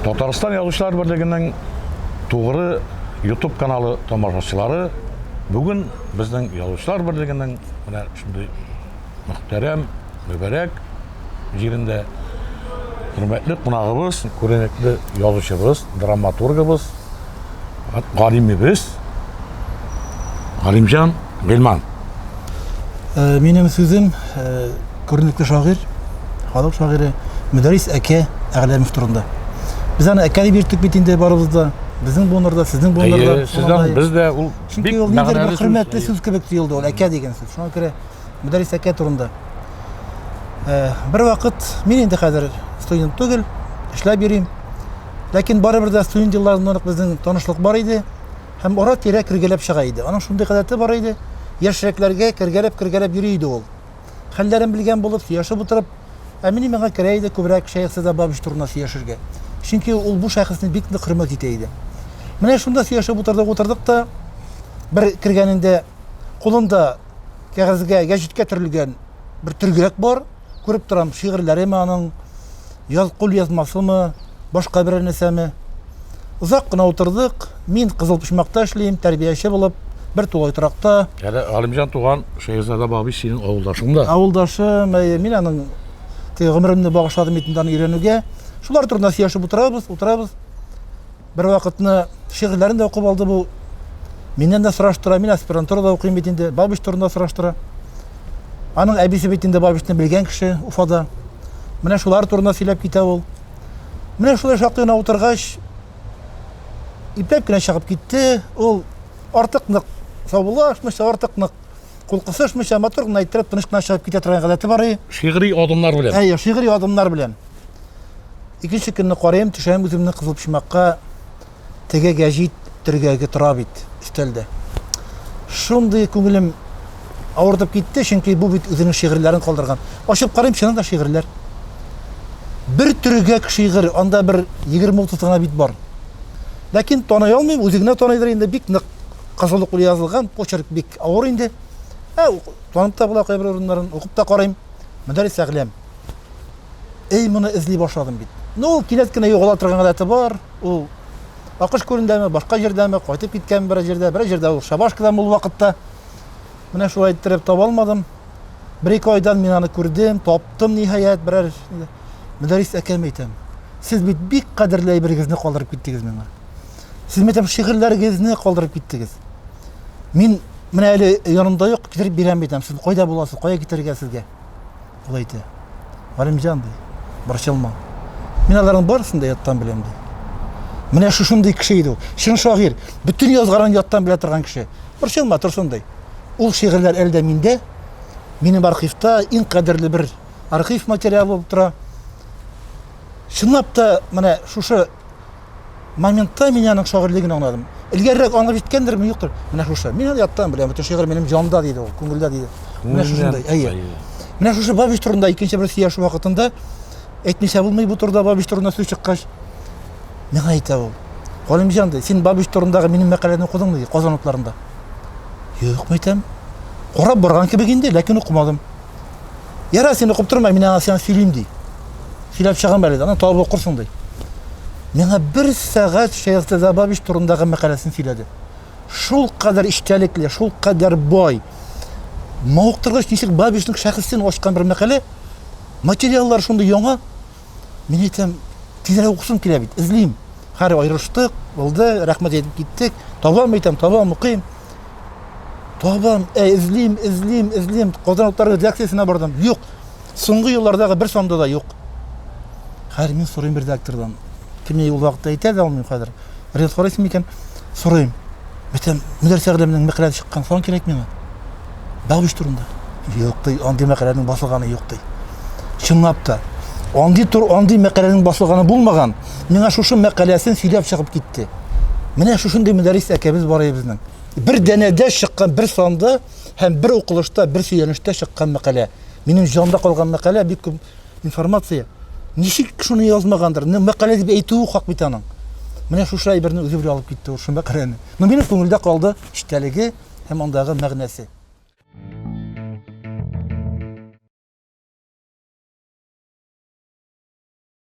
Татарстан язучылар берлегенең тугры YouTube каналы тамашачылары бүген безнең язучылар берлегенең менә шундый мөхтәрәм, мөбәрәк җирендә хөрмәтле кунагыбыз, күренекле язучыбыз, драматургыбыз, галимебез Галимҗан Гыйльман. Э, минем сүзем э, күренекле шагыйрь, халык шагыйре Мөдәрис әкә Әгъләмов турында. Без аны әкә дип йөрттек бит инде барыбыз да. Безнең буыннарда, сезнең буыннарда. Сездән без дә ул бик мәгънәле. Хөрмәтле сүз кебек тоелды ул әкә дигән сүз. Шуңа күрә Мөдәррис әкә турында. Э, бер вакыт мин инде хәзер студент түгел, эшләп йөрим. Ләкин барыбер дә студент елларыннан ук безнең танышлык бар иде һәм ара-тирә кергәләп чыга иде. Аның шундый гадәте бар иде, яшьрәкләргә кергәләп-кергәләп йөри иде ул. Хәлләрен белгән булып, сөйләшеп утырып, ә мин миңа керә иде күбрәк Шәехзада Садабабич турында сөйләшергә. Чөнки ул бу шәхесне бик нык хөрмәт итә иде. Менә шунда сөйләшеп утырдык, утырдык та бер кергәнендә кулында Кәгазьгә, гәҗиткә төрелгән бер төргәк бар. Күреп торам, шигырьләреме аның, яз кулъязмасымы, башка берәр нәрсәме. Озак кына утырдык. Мин Кызыл Почмакта эшлим, тәрбияче булып, бер тулай торакта. Әле Галимҗан туган Шәехзада бабый синең авылдашың да. Авылдашым, әйе. Мин аның теге гомеремне багышладым бит инде аны өйрәнүгә. Шулар турында сөйләшеп утырабыз, утырабыз. Бер вакытны шигырьләрен дә укып алды бу. Миннән дә сораштыра, мин аспирантурада укыйм бит инде, Бабич турында сораштыра. Аның әбисе бит инде Бабичны белгән кеше Уфада. Менә шулар турында сөйләп китә ул. Менә шулай шактый гына утыргач, ипләп кенә чыгып китте. Ул артык нык саубуллашмыйча, артык нык Кул кысышмыйча, матур гына иттереп, тыныч кына чыгып китә торган гадәте бар и. Шигъри адымнар белән. Әйе, шигъри адымнар белән. Икенче көнне карыйм, төшәм үземне кызыл почмакка. Теге гәҗит төргәге тора бит өстәлдә. Шундый күңелем авыртып китте, чөнки бу бит үзенең шигырьләрен калдырган. Ачып карыйм, чыннан да шигырьләр. Бер төргәк шигырь, анда бер 20-30 гына бит бар. Ләкин таный алмыйм, үзе генә таныйдыр инде, бик нык Кызыл уклы язылган, почерк бик авыр инде. Ә танып та була кайбер урыннарын, укып та карыйм. Мөдәррис Әгъләм. Эй, моны эзли башладым бит. Ну, ул кинәт кенә югала торган гадәте бар. Ул Акыш күлендәме, башка җирдәме, кайтып киткән бер җирдә, бер җирдә ул Шабашкада мул вакытта. Менә шулай иттереп таба алмадым. Бер-ике айдан мин аны күрдем, таптым ниһаять, берәр Мөдәррис әкәм әйтәм. Сез бит бик кадерле әйбергезне калдырып киттегез миңа. Сез мәктәп шигырьләрегезне калдырып киттегез. Мин менә әле янымда юк, китереп бирәм битәм. Сез кайда буласыз? Кая китерергә сезгә? Ул әйтә. Галимҗан ди, борчылма. Мин аларның барысын да яттан беләм ди. Менә шушындый кеше иде ул. Чын шагыйрь, бөтен язганын яттан белә торган кеше. Борчылма, Турсун ди. Ул шигырьләр әле дә миндә, минем архивта иң кадерле бер архив материалы булып тора. Чынлап та, менә шушы Моментта мин аның шагыйрьлеген аңладым. Элгәрерәк аңлап җиткәндерме, юктыр. Менә шушы. Мин аны яттан беләм. Бөтен шигырь минем җанда диде ул, күңелдә диде. Менә шушындай. Әйе. Менә шушы Бабич турында икенче бер сөйләшү вакытында әйтмичә булмый бу турыда Бабич турында сүз чыккач, миңа әйтә ул. Галимҗан ди, син Бабич турындагы минем мәкаләне укыдыңмы ди, Казан утларында. Юк, мәйтәм. Карап барган кебек инде, ләкин укымадым. Ярар, син укып торма, мин аңа сиңа сөйлим ди. Сөйләп чыгам әле, аны табып укырсың ди. Миңа бер сәгать Шәйхзә Забабич турындагы мәкаләсен сөйләде. Шул кадәр эчтәлекле, шул кадәр бай. Мавыктыргыч ничек Бабичның шәхесен ачкан бер мәкалә. Материаллар шундый яңа. Мин әйтәм, тизрәк укысым килә бит, эзлим. Хәр аерылыштык, булды, рәхмәт әйтеп киттек. Табам әйтәм, табам, укыйм. Табам, ә эзлим, эзлим, эзлим. Казан утлары редакциясенә бардым. Юк. Соңгы еллардагы бер санда да юк. Хәзер мин сорыйм редактордан. Кемне ул вакытта әйтә дә алмыйм хәзер. ризык карыйсың микән? Сорыйм. Бөтен мөдәррис галимнең мәкаләсе чыккан, салам кирәк миңа. Бәгъвиш турында. Юк ди, андый мәкаләнең басылганы юк ди. Чынлап та, андый тур, андый мәкаләнең басылганы булмаган. Миңа шушы мәкаләсен сөйләп чыгып китте. Менә шушындый мөдәррис әкәбез бар иде безнең. Бер данәдә чыккан бер санда һәм бер укылышта, бер сөйләнештә чыккан мәкалә. Минем җанда калган мәкалә бик күп информация. Ничек шуны язмагандыр? Ну, мәкалә дип әйтүе хак бит аның. Менә шушы әйберне үзе белән алып китте ул шул мәкаләне. Ну, минем күңелдә калды эчтәлеге һәм андагы мәгънәсе.